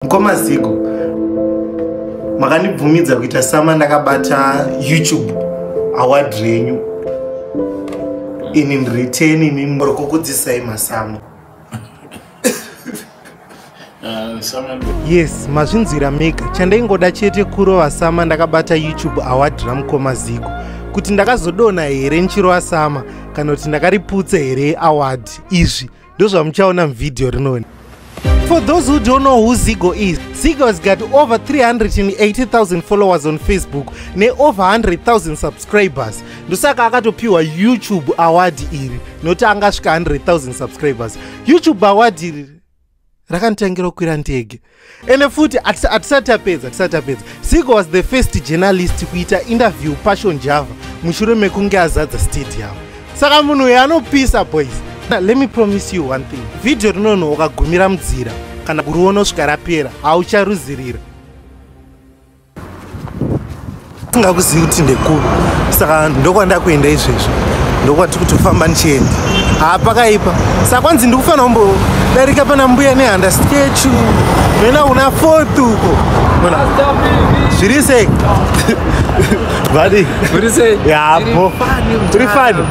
mkoma zigo makandibvumidza kuita sama ndakabata youtube award renyu in return imi muri kukudzisai masamu yes mazvinzwira mega chandaingoda chete kurova sama ndakabata youtube award ramukoma zigo kuti ndakazodona here ndichirova sama kana kuti ndakariputse here award izvi ndozvamuchaona muvhidhiyo rinoni For those who don't know who Zigo is, Zigo has got over 380,000 followers on Facebook ne over 100,000 subscribers. Ndosaka akatopiwa YouTube award iri nokuti angasvika 100,000 subscribers. YouTube award iri rakanditangira kukwira ndege ende futi hatisati tapedza hatisati tapedza sigo was the first journalist kuita interview passion java mushure mekunge azadza stadium saka munhu uyo anopisa boys let me promise you one thing vhidhiyo rinonhu ukagumira mudzira kana kuriona usvika rapera haucharuzirira singakuzivi kuti ndekupi saka ndokwanda kuenda izvezvo ndokwati kuti ufamba ndichienda haa pakaipa saka kwanzi ndikufanira kumbodarika pana mbuya nehanda skechu noenda kuna fort uko ona zviri sei vadi zviri sei yapo tiri fani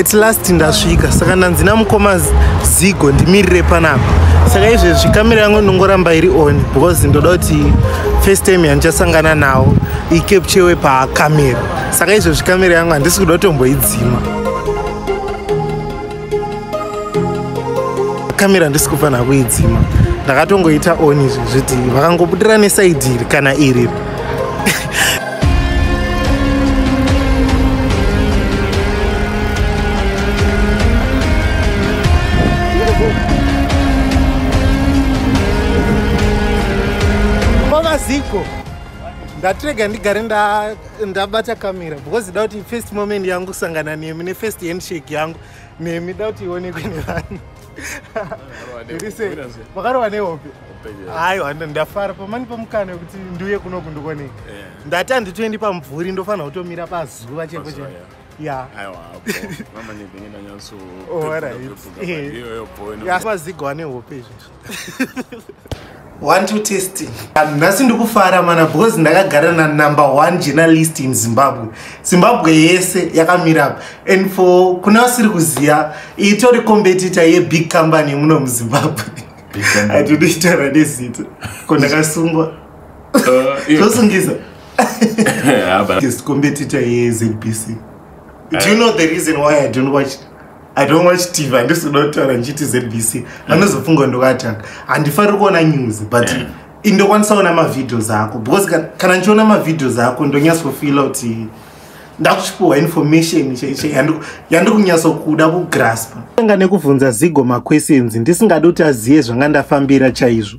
at last ndasvika saka ndanzi namukoma zigo ndimirire panapa saka izvezvi kamera yangu ndongoramba iri on because ndoda kuti first time yandichasangana nawo ikepchewe pakamera saka izvezvi kamera yangu handisi kuda kutomboidzima kamera handisi kufanira kuidzima ndakatongoita on izvezvi kuti vakangobudira nesaidi iri kana iriri kwamaziko ndatirega ndigare ndabata kamera because da kuti first moment yangu kusangana nemi nefirst handshake yangu nemi da kuti ionekwe nevanhu Irise, vakarowa nehope aiwa ndafara pamani pamukana wekuti ndiuye kuno kundikwanei eh. ndati handitoendi pamvuri ndofanira kutomira pazuva cheko cheko yaaaiazigo ane hope izvozvo one two testing nhasi ndikufara mana because ndakagara na number one journalist in zimbabwe zimbabwe yese yakamira apa and for kuna vasiri kuziva itori competitor yebig company muno muzimbabwe atinoitaura nezita ko ndakasungwa uh, zvosungisa competitor yezbc do you uh, know the reason why i don't watch i don't watch tv handisi kuda kutaura ndichiti zbc mm. anozofunga ndokatanga handifari kuona news but mm. indokwanisa kuona mavideos ako because kana ndichiona mavideos ako ndonyatsofila kuti ndakuchipiwa information yandikunyatso kuda kugraspa anga nekubvunza zigo maquestions ndisingadi kuti azive zvanga ndafambira chaizvo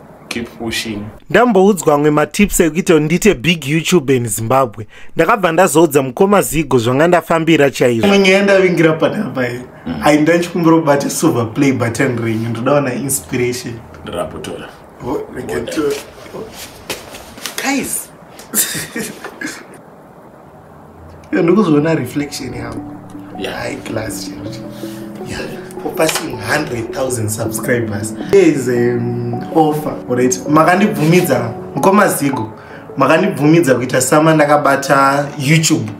keep pushing ndamboudzwa amwe matips ekuita ndiite big youtube in zimbabwe ndakabva ndazoudza mukoma zigo zvanga ndafambira chaizvo imwe nyaya ndavingira panapa iyi mm. ai ndachikumbira kubata silver play button renyu ndodaona inspiration ndirapotora oh, guys Iyo ndikuzoona reflection yangu. Yeah. High class chero. Yeah. For passing 100,000 subscribers. There is an um, offer. Alright. Makandibvumidza mkoma Zigo. Makandibvumidza kuita sama ndakabata YouTube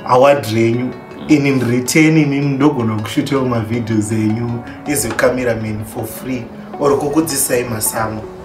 award renyu. In in return in ndogona kushuta ma videos enyu as a cameraman for free or kukudzisai masamu.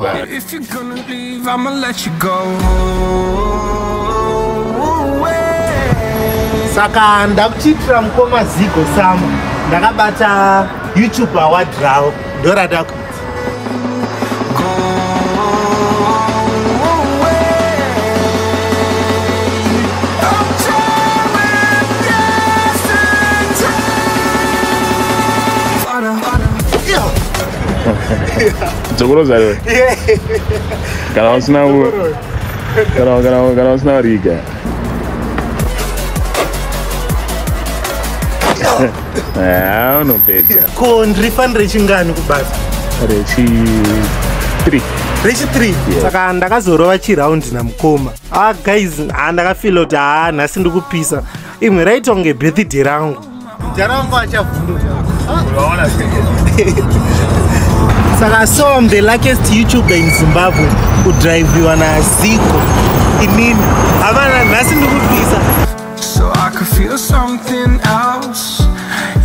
But if you're gonna leave, I'ma let you go. Saka ndakuchitira mukoma Zigo Sama ndakabata YouTube award rawo ndorada kuti dzokoroza iwe kana usina kana usina riga ah, unopedza ko ndirifanire chingani kubasa rechi 3 rechi 3 saka ndakazorova chiraundi namukoma ah guys ah, ndakafila kuti haa ah, nhasi ndikupisa imwe raitonge birthday rangu Jaramba achavhunduka. Unaona Saka so I'm the luckiest YouTuber in Zimbabwe kudriviwa naZiko. Inini havana nhasi ndikubvisa. So I could feel something else.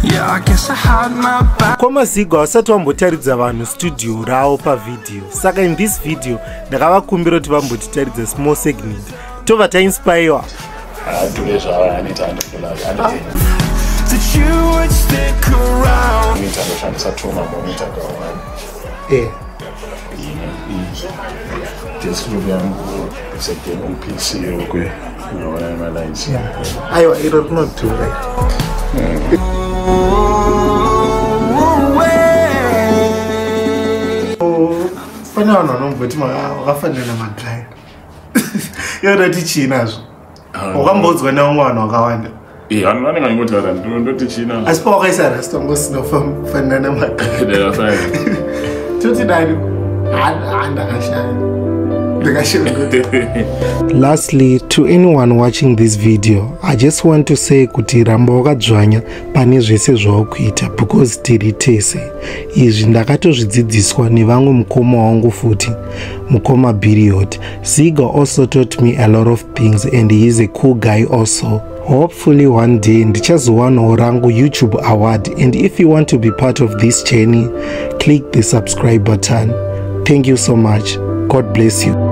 Yeah, I guess I had my back. Koma Zigo hausati wambotaridza vanhu studio rawo pavideo. Saka in this video ndakavakumbira kuti vambotitaridza small segment tova tainspaiwa adhure zvaaneta andokulaa ndoshandisa tuma monita kawani eh. desktop yangu second pc yokwe unoona nemalines aiwa iro rinodhura pane vanhu vanomboti vafanira namadrive yonoti chii nazvo wakambodzwa nevamwe vanhu vakawanda eh, vanhu vanenge vangotaura ndoti chii nazvo asi pawakaisa rasta ngosina kufanira nemaka toti dani handakashaya lastly to anyone watching this video i just want to say kuti ramba wakadzvanya pane zvese zvaukuita because tiri tese izvi ndakatozvidzidziswa nevamwe mukoma wangu futi mukoma biriot ziga also taught me a lot of things and he is a cool guy also hopefully one day ndichazowanawo rangu youtube award and if you want to be part of this journey click the subscribe button thank you so much god bless you